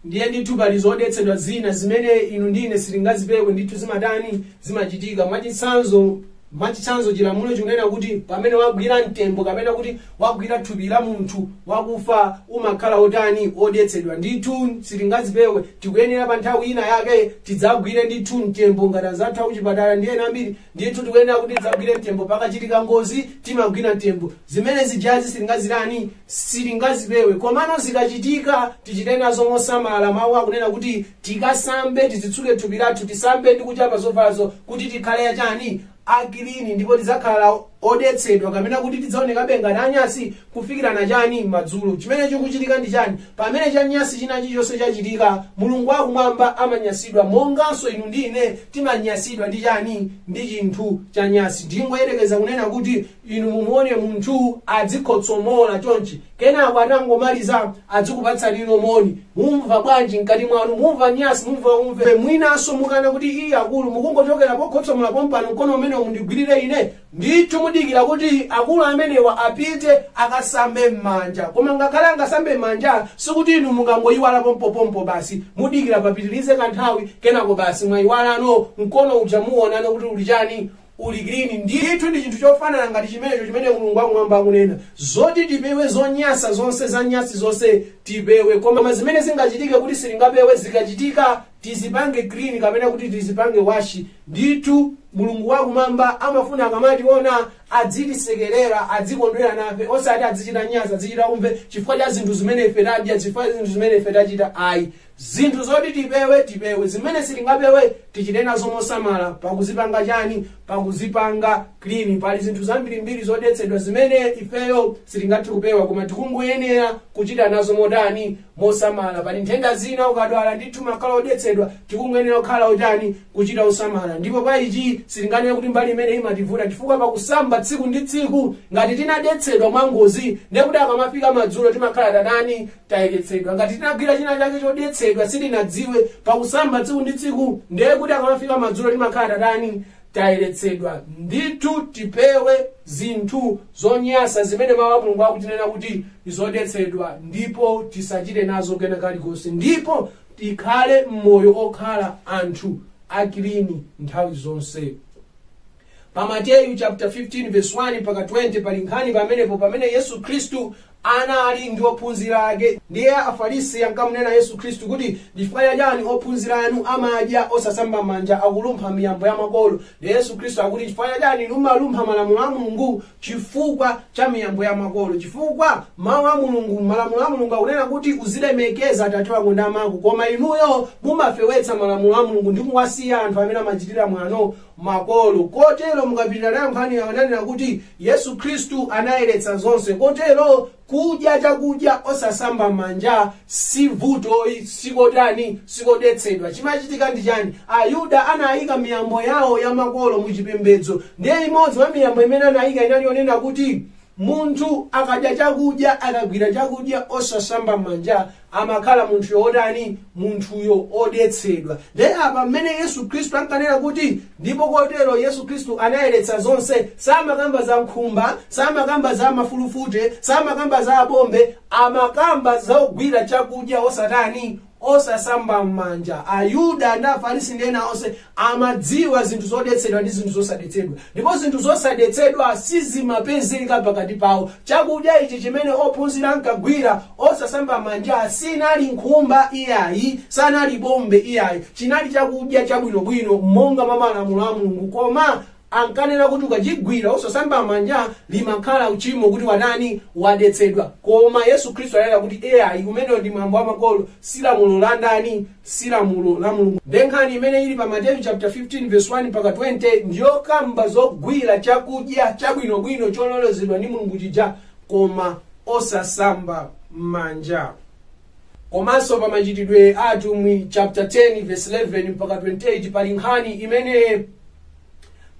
ndiye ndithu pali zodetsedwa zina zimene inu ndi ine sitingazipewe ndithu zimatani zimachitika mwachitsanzo mwachitsanzo chilamulo chikunena kuti pamene wagwira mtembo kapena kuti wagwira thupi la munthu wakufa umakhala otani odetsedwa ndithu sitingazipewe tikuyenera pa nthawi ina yake tidzagwire ndithu mtembo ngati anzathu akuchipatala ndi ena ambiri ndithu tikuyenera kuti tidzagwire mtembo pakachitika ngozi timagwira mtembo zimene zija sitingazitani sitingazipewe komano zikachitika tichite nazo mosamala mawu akunena kuti tikasambe tizitsuke thupi lathu tisambe ndi kuchapa zovalazo kuti tikhale achani akilini ndipo tidzakhala odetsedwa kapena kuti tidzaonekabe ngati anyansi kufikirano chani madzulo chimene chikuchitika ndi chani pamene chanyansi china chilichonse chachitika mulungu wakumwamba amanyansidwa monganso inu ndi ine timanyansidwa ndi chani ndi chinthu chanyansi ndingoyerekeza kunena kuti inu mumuone munthu adzikhotsomola chonchi kenako atangomaliza adzikupatsanino moni mumva bwanji mkati mwanu mumva nyansi mumva umve mwinanso mukana kuti iyayi akulu mukungochokera pokhotsomola pompano mkono umene mundigwirire ine ndithu mudikira kuti akulu amenewa apite akasambe m'manja koma ngakhale angasambe m'manja sikuti inu mukangoyiwala pompopompo basi mudikira papitirize kanthawi kenako basi mwayiwalano mkono uja muwonano kuti uli chani uli clean ndithu ndi chinthu chofanana ngati chimenecho chimene mulungu wakumwamba akunena zoti tipewe zonyansa zonse za nyansi zonse tipewe koma zimene zingachitike kuti sitingapewe zikachitika tizipange clean kapena kuti tizipange wash ndithu mulungu wakumwamba amafuna akamationa adzitisekerera adzikondwera nafe osati adzichita nyansi adzichita umve chifukwa cha zinthu zimene ife tadya chifukwa cha zinthu zimene ife tachita ayi zinthu zoti tipewe tipewe zimene sitingapewe tichite nazo mosamala pakuzipanga chani pakuzipanga clean pali zinthu zambirimbiri zodetsedwa zimene ifeyo sitingathe kupewa koma tikungoyenera kuchita nazo motani mosamala pali nthenda zina ukadwala ndithu umakhala odetsedwa tikungoyenera kukhala otani kuchita mosamala ndipo pa ichi sitinganene kuti mbali imene imativuta chifukwa pakusamba tsiku ndi tsiku ngati tinadetsedwa mwangozi ndekuti akamafika madzulo timakhala tatani tayeretsedwa ngati tinagwira china chake chodetsedwa sitinadziwe pakusamba tsiku ndi tsiku ndiye kuti akamafika madzulo timakhala tatani tayeretsedwa ndithu tipewe zinthu zonyansa zimene mawu a mulungu akutinena kuti ndi zodetsedwa ndipo tisachite nazo kena kalikonse ndipo tikhale moyo okhala anthu akilini nthawi zonse pa mateyu chapter 15 verse 1 mpaka 20 pali nkhani pamenepo pamene yesu khristu anali ndi ophunzira ake ndiye afarisi ankamunena yesu khristu kuti ndifukwa chani ophunzira anu amadya osasamba manja akulumpha miyambo ya makolo ndiye yesu khristu akuti chifukwa chani mumalumpha malamulo a mulungu chifukwa cha miyambo ya makolo chifukwa mawu a mulungu malamulo a mulungu akunena kuti uzilemekeza atate wako ndi amako koma inuyo mumafewetsa malamulo a mulungu ndi kuwasiya anthu amene amachitira mwano makolo. Kotero, mukapitira nayo nkhani yawo, akunena kuti Yesu Khristu anayeretsa zonse. Kotero, kudya chakudya osasamba manja si vutoyi, sikotani, sikodetsedwa. Chimachitika ndi chani? Ayuda anayika miyambo yawo ya makolo mu chipembedzo. Ndiye imodzi mwa miyambo imene anayika inali yonena kuti munthu akadya chakudya, akagwira chakudya osasamba manja amakhala munthuyo wotani munthuyo odetsedwa ndiye apa mmene yesu khristu ankanena kuti ndipo kotero yesu khristu anayeretsa zonse samakakamba za nkhumba samakamba za mafulufute samakamba za abombe amakamba za kugwira chakudya osatani osasamba m'manja ayuda ndi afarisi ndi ena onse amadziwa zinthu zodetsedwa ndi zinthu zosadetsedwa ndipo zinthu zosadetsedwa sizimapezeka pakati pawo chakudya ichi chimene ophunzira ankagwira osasamba manja sinali nkhumba iyayi sanali bombe iyayi chinali chakudya chabwinobwino monga mwa malamulo a mulungu koma ankanena kuti ukachigwira osasamba manja limakhala uchimo kuti watani wadetsedwa koma yesu khristu ananena kuti iyayi umenewo ndi mwambo wa makolo si lamulo la ndani si lamulo la mulungu nde nkhani imene ili pa mateyu chapter 15 verse 1 mpaka 20 ndiyokamba zogwira chakudya chabwinobwino chololezedwa ndi mulungu chija koma osasamba manja komanso pa machitidwe a atumwi chapter 10 verse 11 mpaka 28 pali nkhani imene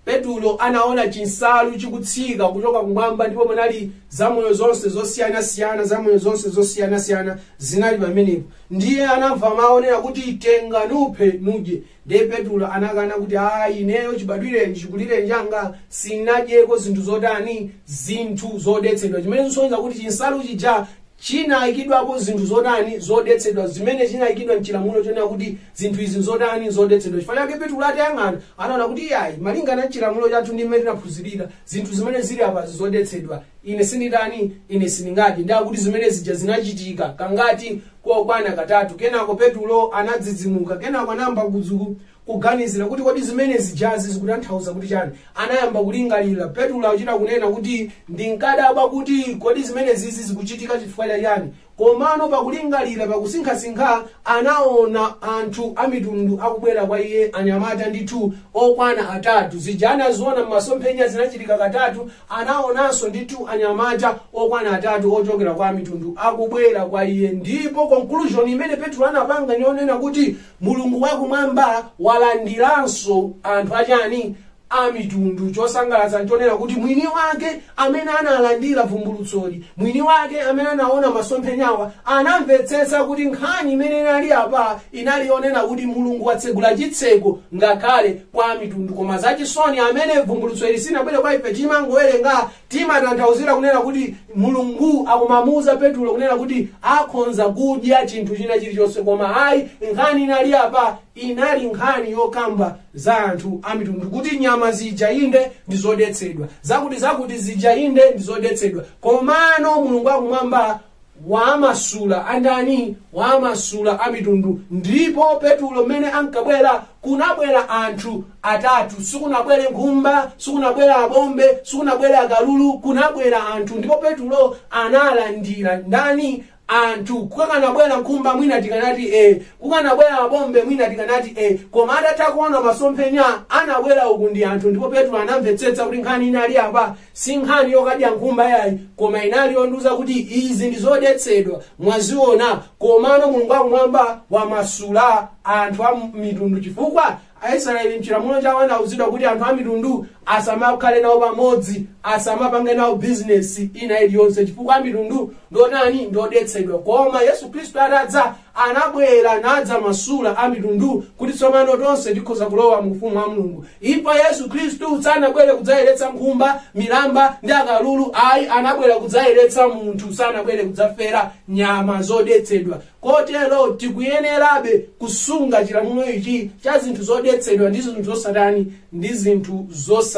petulo anaona chinsalu chikutsika kuchoka kumwamba ndipo munali zamoyo zonse zosiyanasiyana zamoyo zonse zosiyanasiyana zinali pamenepo ndiye anamva mawu onena kuti tenga nuphe nudye ndiye petulo anakana kuti ayi ineyo chibadwireni chikulireni changa sinadyeko zinthu zotani zinthu zodetsedwa chimene chisonyeza kuti chinsalu chija chinayikidwapo zinthu zotani zodetsedwa zimene chinayikidwa mchilamulo chonena kuti zinthu izi zotani zodetsedwa chifukwa chake petulo atayang'ana anaona kuti iyayi malingana ndi chilamulo chathu ndi mmene tinaphunzirira zinthu zimene zili apa zodetsedwa ine sinditani ine sindingadye ndiye akuti zimene zija zinachitika kangati kokwana katatu kenako petulo anadzidzimuka kenako anayamba kudzu- kuganizira kuti kodi zimene zijazi zikutanthauza kuti chani anayamba kulingalira petulo akuchita kunena kuti ndinkadabwa kuti kodi zimene zizi zikuchitika chifukwa cha chani komano pakulingalira pakusinkhasinkha anaona anthu amitundu akubwera kwa iye anyamata ndithu okwana atatu zija anaziona m'masomphenya zinachitika katatu Anaonanso ndithu anyamata okwana atatu ochokera kwa amitundu akubwera kwa iye, ndipo conclusion imene Petulo anapanga ni yonena kuti Mulungu wakumwamba walandiranso anthu achani amitundu. Chosangalatsa nchonena kuti mwini wake amene analandira vumbulutsoli, mwini wake amene anaona masomphenyawa, anamvetsetsa kuti nkhani imene inali apa inali yonena kuti Mulungu watsegula chitseko ngakhale kwa amitundu koma zachisoni amene vumbulutso ili sinabwere kwa ife timangowerenga timatanthauzira kunena kuti mulungu akumamuuza petulo kunena kuti akhonza kudya chinthu china chilichonse koma ayi nkhani inali apa inali nkhani yokamba za anthu amitundu kuti nyama zija inde ndi zodetsedwa zakuti zakuti zija inde ndi zodetsedwa komano mulungu wakumwamba wamasula andani wamasula amitundu ndipo petulo mmene ankabwera kunabwera anthu atatu sikunabwere nkhumba sikunabwere abombe sikunabwere akalulu kunabwera anthu ndipo petulo analandira ndani anthu kukanabwera nkhumba mwina tikanati e kukanabwera abombe mwina tikanati e koma atatha kuona masomphenya anabwera uku ndi anthu ndipo petulo anamvetsetsa kuti nkhani inali apa si nkhani yokadya nkhumba yayi koma inali yondiuza kuti izi ndi zodetsedwa mwaziona komano mulungu wakumwamba wamasula anthu a mitundu chifukwa aisraeli mchilamulo chawo anauzidwa kuti anthu a mitundu asamakhale nawo pamodzi asamapange nawo bizinesi ina iliyonse chifukwa a mitundu ndonani ndodetsedwa koma yesu khristu atadza anabwera nadzamasula amitundu kuti tsopano tonse tikhoza kulowa mu ufumu wa mulungu chifukwa yesu khristu sanabwere kudzayeretsa nkhumba milamba ndi akalulu ayi anabwera kudzayeretsa munthu sanabwere kudzafera nyama zodetsedwa kotero tikuyenerabe kusunga chilamulo ichi cha zinthu zodetsedwa ndi zinthu zosatani ndi zinthu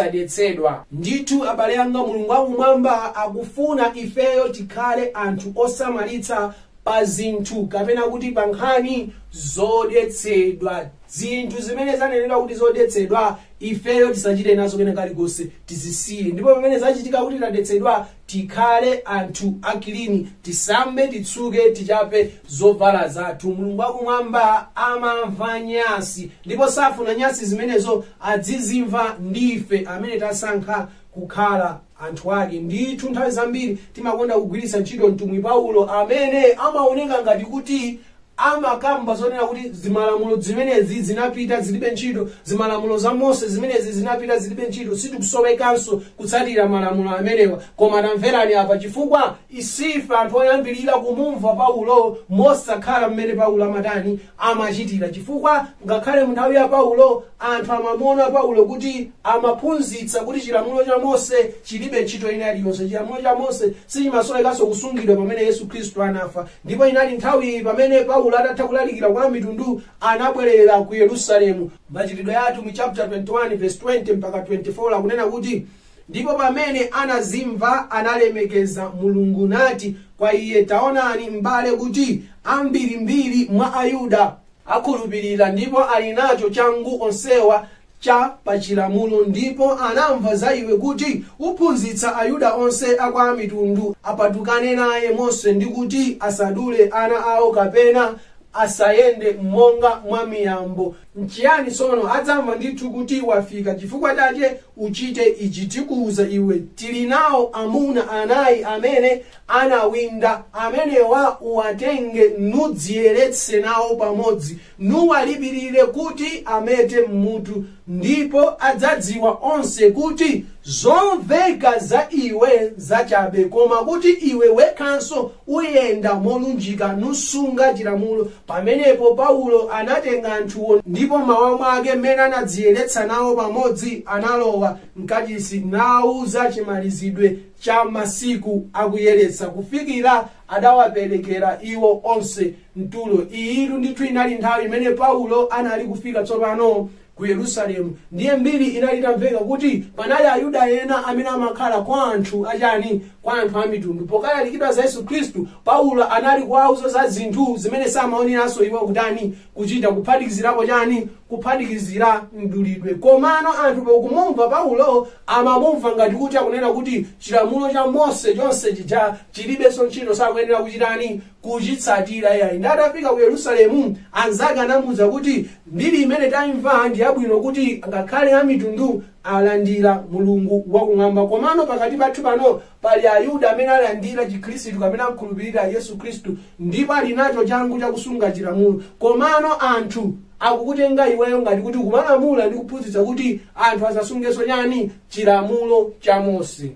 zosadetsedwa ndithu abale anga mulungu wakumwamba akufuna ifeyo tikhale anthu osamalitsa pa zinthu kapena kuti pa nkhani zodetsedwa zinthu zimene zanenedwa kuti zodetsedwa ifeyo tisachite nazo kena kalikonse tizisiye ndipo pamene zachitika kuti tadetsedwa tikhale anthu akilini tisambe titsuke tichape zovala zathu mulungu wakumwamba amamva nyasi ndipo safuna nyasi zimenezo adzizimva ndife amene tasankha kukhala anthu ake. Ndithu nthawi zambiri timakonda kugwiritsa ntchito mtumwi Paulo amene amaoneka ngati kuti amakamba zonena kuti zimalamulo zimenezi zinapita zilibe ntchito, zimalamulo za Mose zimenezi zinapita zilibe ntchito, sitikusowekanso kutsatira malamulo amenewa. Koma tamverani apa chifukwa isife anthu oyambirira kumumva Paulo mosakhala mmene Paulo amatani amachitira chifukwa ngakhale munthawi ya paulo anthu amamuona paulo kuti amaphunzitsa kuti chilamulo cha mose chilibe ntchito ina iliyonse chilamulo cha mose sichimasowekanso kusungidwa pamene yesu khristu anafa ndipo inati nthawi pamene paulo atatha kulalikira kwa amitundu anabwerera ku yerusalemu machitidwe ya atumwi chapter 21 verse 20 mpaka 24 akunena kuti Ndipo pamene anazimva, analemekeza Mulungu, nati kwa iye, Taonani, m'bale, kuti ambirimbiri mwa Ayuda akhulupirira, ndipo ali nacho changu onsewa cha pachilamulo, ndipo anamva za iwe kuti uphunzitsa Ayuda onse a kwa amitundu apatukane naye Mose, ndi kuti asadule ana awo kapena asayende monga mwa miyambo Nchiyani tsono? Adzamva ndithu kuti wafika, chifukwa chache uchite ichi tikuuza iwe, Tili nao amuna anai amene anawinda, amenewa uwatenge, nudziyeretse nao pamodzi, nuwalipirire kuti amete m'mutu, ndipo adzadziwa onse kuti zomveka za iwe zachabe, koma kuti iwe wekhanso Uyenda molunjika, nusunga chilamulo. Pamenepo Paulo anatenga anthuwo, ndipo m'mawa mwake, m'mene anadziyeretsa nawo pamodzi, analowa m'Kachisi, nauza chimalizidwe cha masiku a kuyeretsa, kufikira adawaperekera iwo onse mtulo. Iyitu ndithu inali nthawi imene Paulo anali kufika tsopano. ku yerusalemu ndiye mbiri inali itamveka kuti panali ayuda ena amene amakhala kwa anthu achani kwa anthu a mitundu pokalalikidwa za yesu khristu paulo anali kuwauza za zinthu zimene samayeneranso iwo kutani kuchita kuphatikizirapo chani kuphatikizira mdulidwe komano anthu pokumumva paulo amamumva ngati kuti akunena kuti chilamulo cha mose chonse chija chilibenso ntchito sakuyenera kuchitani kuchitsatira yayi ndi atafika ku yerusalemu anzake anamuwuza kuti mbiri imene taimva ndi yabwino kuti ngakhale amitundu alandira mulungu wakumwamba komano pakati pathu pano pali ayuda amene alandira chikhristu kapena akhulupirira yesu khristu ndipo ali nacho changu chakusunga chilamulo komano anthu akukutenga iweyo ngati kuti ukumalamula ndi kuphunzitsa kuti anthu asasungenso chani chilamulo cha mose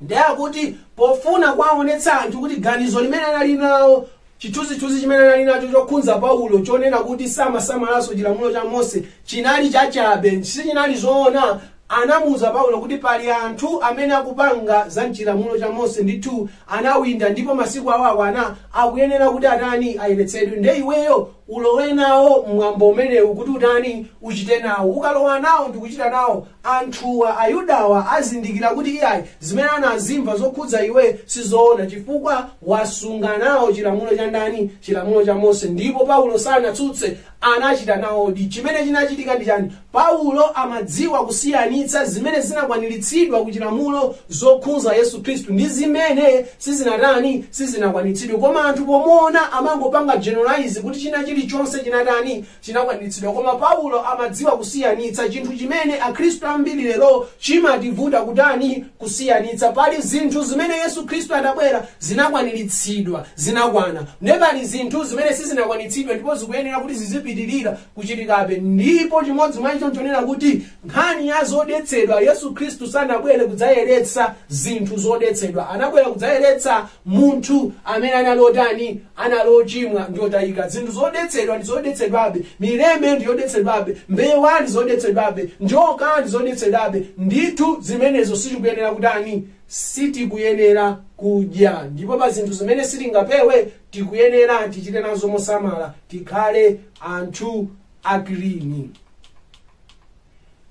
nde akuti pofuna kuwaonetsa anthu kuti ganizo limene anali nawo chithunzithunzi chimene anali nacho chokhunza paulo chonena kuti samasamalanso chilamulo cha mose chinali chachabe sichinali zoona anamuuza paulo kuti pali anthu amene akupanga za mchilamulo cha mose ndithu anawinda ndipo masiku awo akwana akuyenera kuti atani ayeretsedwe nde iweyo ulowe nawo mwambo umenewu kuti utani uchite nawo ukalowa nawo ndikuchita nawo anthuwa, Ayudawa, azindikira kuti iyayi, zimene anazimva zokhudza iwe si zoona chifukwa wasunga nawo chilamulo cha ndani? Chilamulo cha Mose. Ndipo Paulo sanatsutse, anachita nawodi. Chimene chinachitika ndi chani? Paulo amadziwa kusiyanitsa zimene zinakwaniritsidwa ku chilamulo zokhunza Yesu Khristu ndi zimene sizinatani? Sizinakwaniritsidwe. Koma anthu pomuona amangopanga generalize kuti china chilichonse chinatani? chinakwaniritsidwa koma paulo amadziwa kusiyanitsa chinthu chimene akhristu ambiri lero chimativuta kutani kusiyanitsa pali zinthu zimene yesu khristu anabwera zinakwaniritsidwa zinakwana ndiye pali zinthu zimene sizinakwaniritsidwe ndipo zikuyenera kuti zizipitirira kuchitikabe ndipo chimodzi mwa icho nchonena kuti nkhani ya zodetsedwa yesu khristu sanabwere kudzayeretsa zinthu zodetsedwa anabwera kudzayeretsa munthu amene anali otani anali ochimwa ndi otayika zinthu zodetsedwa ndi zodetsedwabe mileme ndi yodetsedwabe mbewa ndi zodetsedwabe njoka ndi zodetsedwabe ndithu zimenezo sitikuyenera kutani sitikuyenera kudya ndipo pa zinthu zimene sitingapewe tikuyenera tichite nazo mosamala tikhale anthu akilini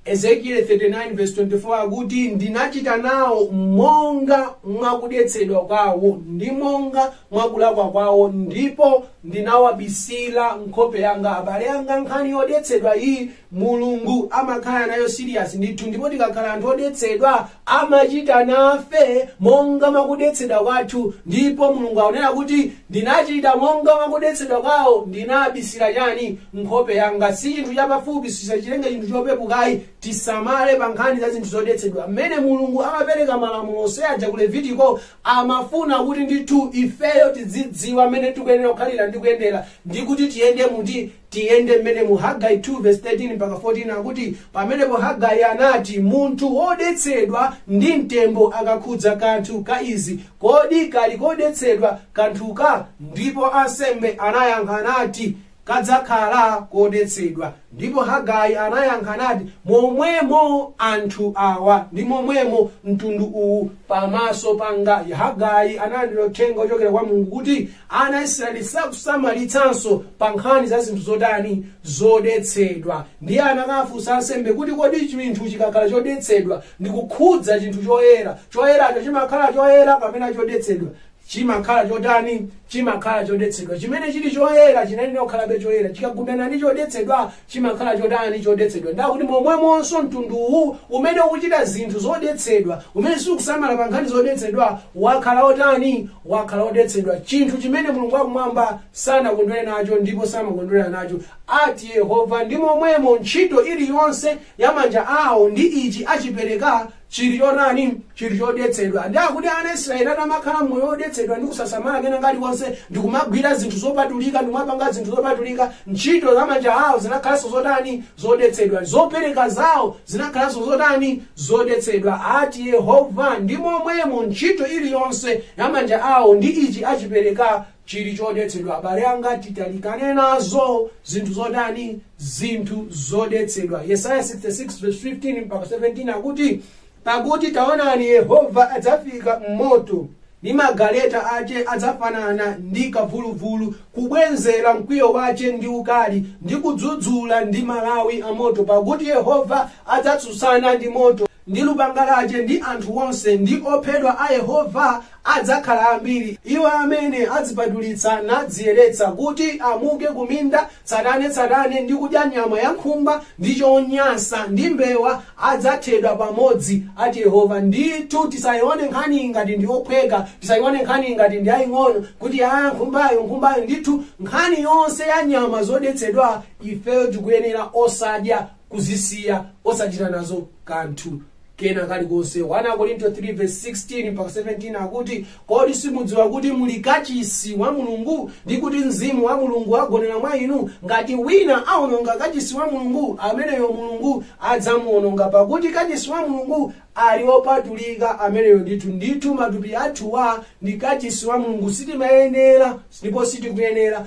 Ezekieli 39 verse 24 akuti ndinachita nawo monga mwakudetsedwa kwawo ndi monga mwakulakwa kwawo ndipo ndinawabisira nkhope yanga abale anga nkhani yodetsedwa iyi mulungu amakhala nayo serious ndithu ndipo tikakhala anthu odetsedwa amachita nafe monga mwakudetsedwa kwathu ndipo mulungu akunena kuti ndinachita monga mwakudetsedwa kwawo ndinabisira chani nkhope yanga si chinthu chapafupi tisachitenge chinthu chopepukayi tisamale pa nkhani za zinthu zodetsedwa mmene mulungu amapereka malamulo onse aja ku levitiko amafuna kuti ndithu ifeyo tidzidziwa mmene tikuyenera kukhalira ndi kuyendera ndi kuti tiyende muti Tiyende mmenemu, Hagai 2 vesi 13 mpaka 14 akuti, Pamenepo Hagai anati, Munthu wodetsedwa ndi mtembo akakhudza kanthu ka izi, kodi kali kodetsedwa kanthuka? Ndipo ansembe anayankha nati, Kadzakhala kodetsedwa. Ndipo Hagai anayankha nati, Momwemo anthu awa, ndi momwemo mtundu uwu pamaso panga. Hagai analandira uthenga wochokera kwa Mulungu kuti ana a israeli sakusamalitsanso pa nkhani za zinthu zotani zodetsedwa ndiye anakafunsa ansembe kuti kodi chinthu chikakhala chodetsedwa ndi kukhudza chinthu choyera choyeracho chimakhala choyera kapena chodetsedwa chimakhala chotani chimakhala chodetsedwa chimene chili choyera chinalina kukhalabe choyera chikagundana ndi chodetsedwa chimakhala chotani chodetsedwa nde kuti momwemonso mtundu uwu umene ukuchita zinthu zodetsedwa umene sikusamala pa nkhani zodetsedwa wakhala otani wakhala odetsedwa chinthu chimene mulungu wakumwamba sanakondwere nacho ndipo samakondwera nacho ati yehova ndi momwemo ntchito iliyonse ya manja awo ndi ichi achipereka chili chotani chili chodetsedwa nde akuti ana a israeli atamakhala moyo wodetsedwa ndi kusasamala kena kalikonse ndi kumagwira zinthu zopatulika ndi kumapanga zinthu zopatulika ntchito za manja awo zinakhalanso zotani zodetsedwa zopereka zawo zinakhalanso zotani zodetsedwa ati yehova ndi momwemo ntchito iliyonse ya manja awo ndi ichi achipereka chili chodetsedwa abale anga titalikane nazo zinthu zotani zinthu zodetsedwa yesaya 66 verse 15 mpaka 17 akuti pakuti taonani yehova adzafika m'moto ndi magaleta ache adzafanana ndi kavuluvulu kubwenzera mkwiyo wache ndi ukali ndi kudzudzula ndi malawi a moto pakuti yehova adzatsutsana ndi moto ndi lupanga lache, ndi anthu onse, ndi ophedwa a Yehova adzakhala ambiri, iwo amene adzipatulitsa nadziyeretsa, kuti amuke kuminda tsatane tsatane, ndi kudya nyama ya nkhumba, ndi chonyansa, ndi mbewa, adzathedwa pamodzi, ati Yehova. Ndithu tisaione nkhaniyi ngati ndi yophweka, tisaione nkhaniyi ngati ndi yaing'ono, kuti aa nkhumbayo, nkhumbayo, ndithu nkhani yonse ya nyama zodetsedwa ifeyo tikuyenera osadya, kuzisiya osachita nazo kanthu kena kalikonse 1 korinto 3 verse 16 mpaka 17 akuti kodi simudziwa kuti muli kachisi wa mulungu ndi kuti mzimu wa mulungu agonera mwa inu ngati wina aononga kachisi wa mulungu ameneyo mulungu adzamuononga pakuti kachisi wa mulungu ali opatulika ameneyo ndithu ndithu matupi athuwa ndi kachisi wa mulungu sitimayenera ndipo sitikuyenera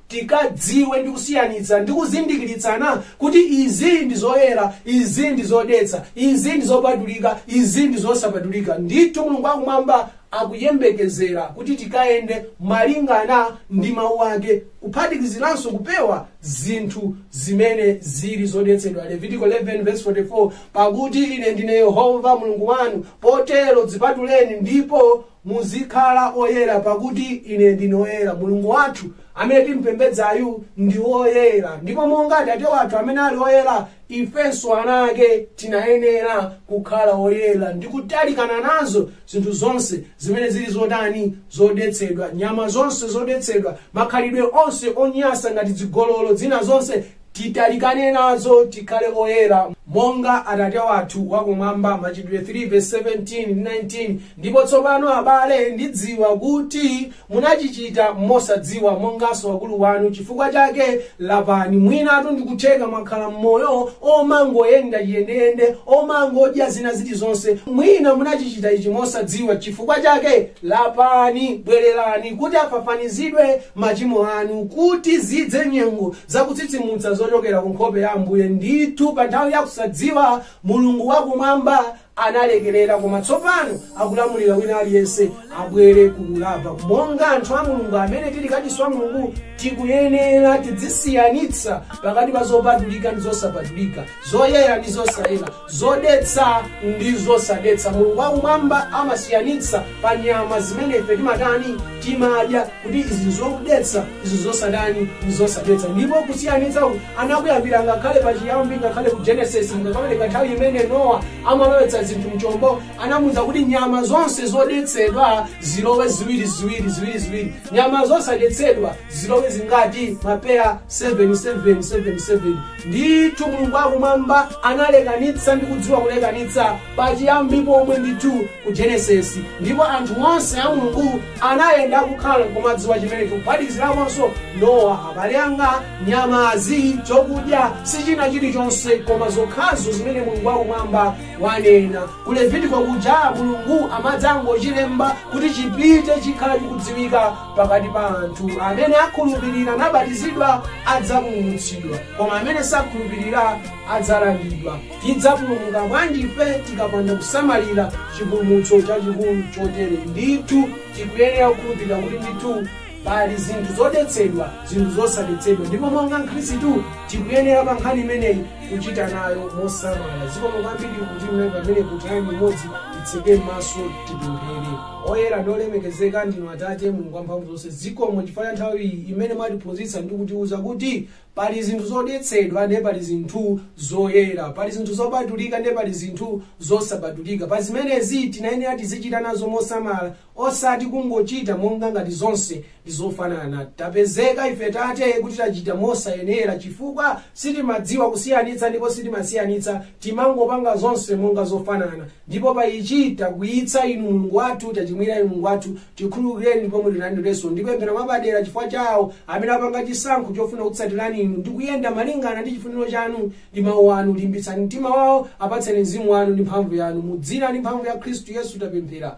tikadziwe ndi kusiyanitsa ndi kuzindikiritsana kuti izi ndi zoyera izi ndi zodetsa izi ndi zopatulika izi ndi zosapatulika ndithu mulungu akumwamba akuyembekezera kuti tikayende malingana ndi mawu ake kuphatikiziranso kupewa zinthu zimene zili zodetsedwa levitiko 11 verse 44 pakuti ine ndine yehova mulungu wanu potero dzipatuleni ndipo Muzikhala oyera, pakuti ine ndine woyera. Mulungu wathu amene timpembedzayu ndi woyera, ndipo monga Atate wathu amene ali woyera, ifenso ana ake tinayenera kukhala woyera ndi kutalikana nazo zinthu zonse zimene zili zotani zodetsedwa, nyama zonse zodetsedwa, makhalidwe onse onyasa ngati zigololo, zina zonse Titalikane nazo, tikhale oyera, monga Atate wathu wa Kumwamba, Machitidwe 3 vesi 17 ndi 19 Ndipo tsopano, abale, ndidziwa kuti munachichita mosadziwa, monganso wakulu wanu, chifukwa chake lapani, mwinatu ndikutheka mwakhala m'moyo omangoyenda chiyendeyende, omangodya zina zilizonse, mwina munachichita ichi mosadziwa, chifukwa chake lapani, bwererani, kuti afafanizidwe machimo anu, kuti zidze nyengo za kutsitsimutsa zochokera ku nkhope ya Ambuye. Ndithu, pa nthawi ya kusadziwa, Mulungu wa Kumwamba analekerera, koma tsopano akulamulira wina aliyense abwere ku kulapa. Monga anthu a Mulungu amene tili kachisi wa Mulungu, tikuyenera tidzisiyanitsa pakati pa zopatulika ndi zosapatulika, zoyera ndi zosayera. zodetsa ndi zosadetsa. Mulungu wa Kumwamba amasiyanitsa pa nyama zimene ife timatani timadya kuti izi nzodetsa, izi nzosatani, nzosadetsa. Ndipo kusiyanitsa anakuyambira ngakhale pa chiyambi, ngakhale ku Genesis, ngakhale nthawi imene Nowa amalowetsa zinthu mchombo, anamuuza kuti nyama zonse zodetsedwa zilowe ziwiri ziwiri ziwiri ziwiri, nyama zosadetsedwa zilowe zingati mapeya 7 7 7 7 Ndithu Mulungu wa Kumwamba analekanitsa ndi kudziwa kulekanitsa pachiyambi pomwe ndithu ku Genesis, ndipo anthu onse a Mulungu anayenera kukhala nkumadziwa chimenechi kuphatikizirakonso Nowa, abale anga, nyamazi, chokudya, si china chilichonse koma zokhazo zimene Mulungu wa Kumwamba wanena. Ku Levitiko kuja Mulungu amadzangochilemba kuti chipite chikhala chikudziwika pakati pa anthu amene akhulupirira nabatizidwa adzapulumutsidwa koma amene sakhulupirira adzalangidwa tidzapulumuka bwanji ife tikapanda kusamalira chipulumutso chachikulu chotere ndithu tikuyenera kukhulupirira kuti ndithu pali zinthu zodetsedwa zinthu zosadetsedwa ndipo monga mkhristu tikuyenera pa nkhani imeneyi kuchita nayo mosamala zikomo kwambiri kuti mnayi pamene kwa nthawi imodzi titseke maso tipemphere oyera ndi olemekezeka ndinu atate mulungu wamphamvu zonse zikomo chifukwa cha nthawi iyi imene mwatiphunzitsa ndi kutiuza kuti pali zinthu zodetsedwa ndiye pali zinthu zoyera pali zinthu zopatulika ndiye pali zinthu zosapatulika pa zimenezi tinayenera tizichita nazo mosamala osati kungochita monga ngati zonse ndizofanana tapezeka ife tate kuti tachita mosayenera chifukwa sitimadziwa kusiyanitsa ndipo sitimasiyanitsa timangopanga zonse monga zofanana ndipo pa ichi takwiyitsa inu mulungu wathu tachimwira inu mulungu wathu tikhululukireni ndipo mutilandirenso ndipemphera mwapadera chifukwa chawo amene apanga chisankho chofuna kutsatirani inu ndi kuyenda malingana ndi chifuniro chanu ndi mawu anu limbitsani mtima wawo apatseni mzimu wanu ndi mphamvu yanu mu dzina ndi mphamvu ya khristu yesu tapemphera